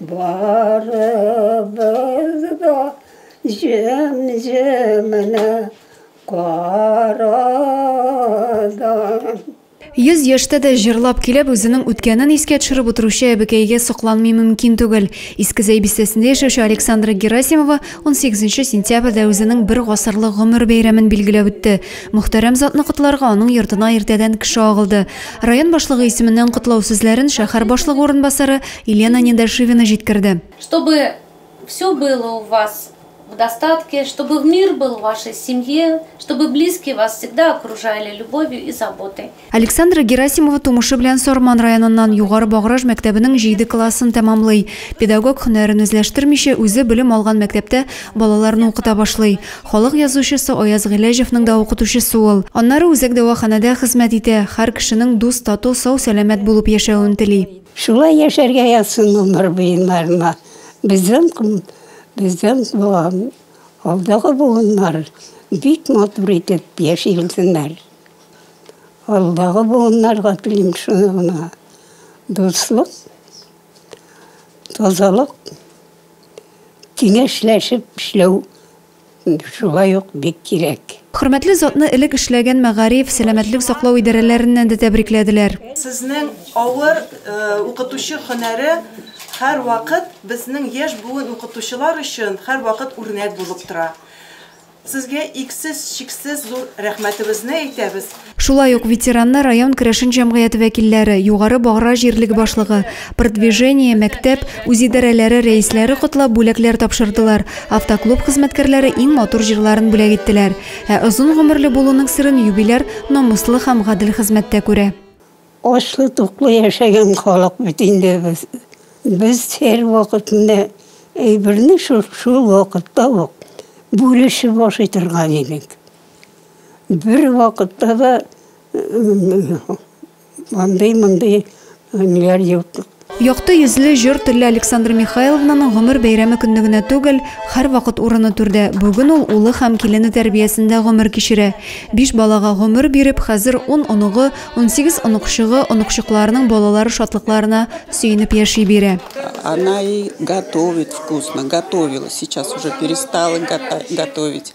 Барыбыз да җем-җемнә карадым. Йөз яшьтә дә җырлап килеп, үзенең үткәнен искә төшереп утыручы әбекәйгә сокланмый мөмкин түгел. Иске Зәй бистәсендә яшәүче Александра Герасимова унсигезенче сентябрьдә үзенең бер гасырлык гомер бәйрәмен билгеләп үтте. Мөхтәрәм затны котларга аның йортына иртәдән кеше агылды. Район башлыгы исеменнән котлау сүзләрен шәһәр башлыгы урынбасары Елена Недашивина җиткерде. Чтобы все было у вас в достатке, чтобы в мир был в вашей семье, чтобы близкие вас всегда окружали любовью и заботой. Александра Герасимова тумышы белән Сарман районыннан Югары Баграж мәктәбенең җиде классын тәмамлый. Педагог һөнәрен үзләштермичә, үзе белем алган мәктәптә балаларны укыта башлый. Халык язучысы Аяз Гыйләҗевның да укытучысы ул. Аннары үзәк дәваханәдә хезмәт итә, һәр кешенең дус, тату, сау-сәламәт булып яшәвен тели. Шулай яшәргә язсын гомер буеннарына безнең безнең буын, алдагы буыннар бик матур итеп яши белсеннәр. Алдагы буыннарга телим шуны гына, дуслык, тазалык. Киңәшләшеп эшләү шулай ук бик кирәк. Хөрмәтле затны элек эшләгән мәгариф, сәламәтлек саклау идарәләреннән дә тәбрикләделәр. Сезнең авыр укытучы һөнәре һәрвакыт безнең яшь буын укытучылар өчен һәрвакыт үрнәк булып тора. Сезгә иксез-чиксез зур рәхмәтебезне әйтәбез. Шулай ук ветеранны район керәшен җәмгыяте вәкилләре, Югары Багра җирлеге башлыгы, Продвижение, мәктәп, үзидарәләре рәисләре котлап бүләкләр тапшырдылар, автоклуб хезмәткәрләре иң матур җырларын бүләк иттеләр. Ә озын гомерле булуның серен юбиляр намуслы һәм гадел хезмәттә күрә. Ачлы-туклы яшәгән халык бит инде без. Без һәрвакыт менә әйберне шул-шул вакытта ук бүлешеп ашый торган идек. Бервакытта да андый-мондый ниләр юк. Якты йөзле, җор телле Александра Михайловнаның гомер бәйрәме көнне генә түгел, һәрвакыт урыны түрдә. Бүген ул улы һәм килене тәрбиясендә гомер кичерә. Биш балага гомер биреп, хәзер ун оныгы, унсигез оныкчыгы, оныкчыкларының балалары шатлыкларына сөенеп яши бирә. Она и готовит вкусно, готовила, сейчас уже перестала готовить.